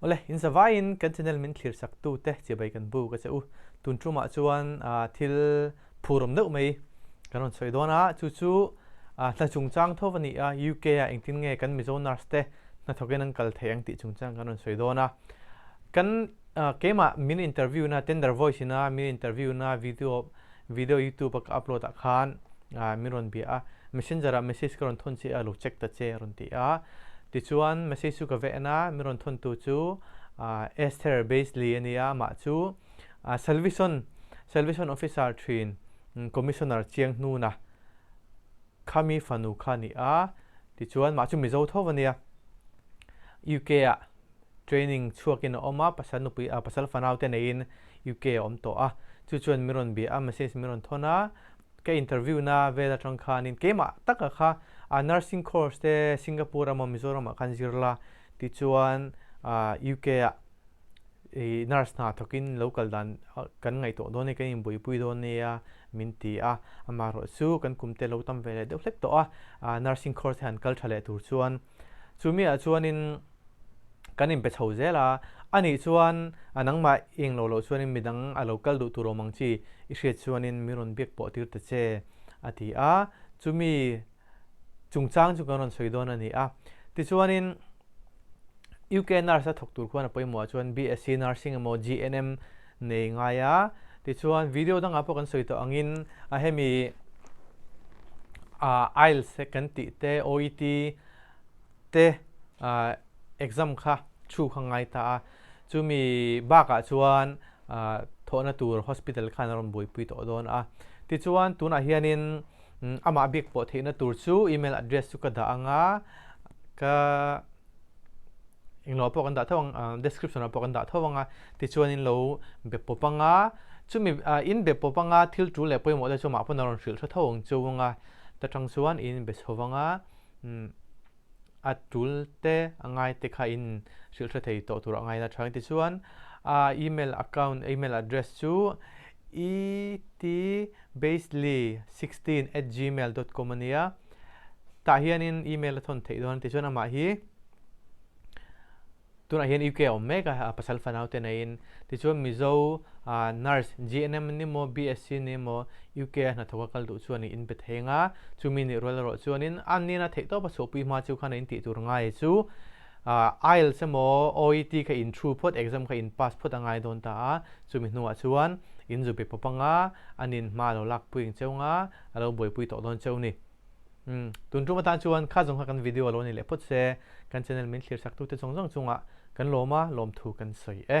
Awle, inzavaiin kan channel min thlir saktute chiabai kan bu ka che u. Tun tumah chuan thil phuhrawm deuh mai kan rawn sawi dawn a, chu chu hna chungchang tho a ni a, UK ah engtin nge kan Mizo nurse te hna thawkin an kal theih ang tih chungchang kan rawn sawi dawn a. Kan keimah min interview na, Tender Voice ina min interview na video, Video youtube-a ka upload ah khan min rawn bia a, messenger ah message ka rawn thawn che a, lo check ta che a rawn ti a, tichuan message chu ka veh en a, min rawn thawn tu chu Esther Beisley a ni a, mah chu Salvation Salvation Officer thin Commissioner chiang hnuna khami fanu kha a ni a, tichuan mah chu Mizo tho a nia, UK ah training chhuak in a awm a, pasal nupui ah pasal fanau te nei in, UK a awm tawh a, chu chuan min rawn bia a, message min rawn thawn a, ka interview na vel atang khanin keimah taka kha a nursing course te Singapore emaw Mizoram ah kan zir la, tichuan UK ah nurse hna thawkin lo kal dan kan ngaihtuah dawn e, kan inbuaipui dawn e a min ti a, amaherawhchu kan kumte lo tam ve leh deuh hlek tawh a, nursing course hi han kal tha leh tur chuan Chu mi ah chuanin kan inpe chho zel a, a nih chuan a nangmah eng lo loh chuanin midang a lo kal duh tur awm ang chi, i hriat chuanin min rawn biak pawh tir ta che, a ti a, chu mi chungchang chu kan rawn sawi dawn a ni a. Tichuanin UK nurse a thawk tur khuan a pawimawh ah chuan BSC Nursing emaw GNM, Nei ngai a, tichuan video dangah pawh kan sawi tawh angin a hemi ah IELTS e kan tih te, OET te exam kha thu kha ngai ta a, chumi bakah chuan thawhna tur hospital khan a rawn buaipui tawh dawn a. Tichuan tunah hianin amah biak pawh theihna tur chu email address chu ka dah anga ka. englo pawh kan dah tho ang description ah pawh kan dah tho ang a tichuan in lo be pawp ang a chumi in be pawp ang a thil tul leh pawimawh te chu mah pawn a rawn hrilh tha tho ang chu ang a ta tang chuan in be chho ang a a tul te a ngai te kha in hrilh hre thei tawh tur a ngai na tha ang tichuan a email account email address chu etbasely sixteen at gmail dot com a nia. tah hianin email a thawn theih dawn a ti chuan amah hi tunah hian UK a awm mek a a pasal fanau te neiin tichuan Mizo nurse GNM ni maw BSc ni maw UK a hnathawka kal duh chu a nih in pe thei anga chumi nih rual erawh chuanin a nena theih tawpa chhuahpui hma chu khan a intih tur ngai chu IELTS emaw OET kha in thu phawt exam kha in pass phawt a ngai dawn ta a chumi hnungah chuan in zu be pawp anga an in hma lo lak puiin cheu nga a lo buaipui tawh dawn cheu ni. Umm, tun tum atan chuan kha zawng kha kan video a lo nei leh phawt se, kan channel min thlir saktu te zawng zawng chungah kan lawm a, lawm thu kan sawi e.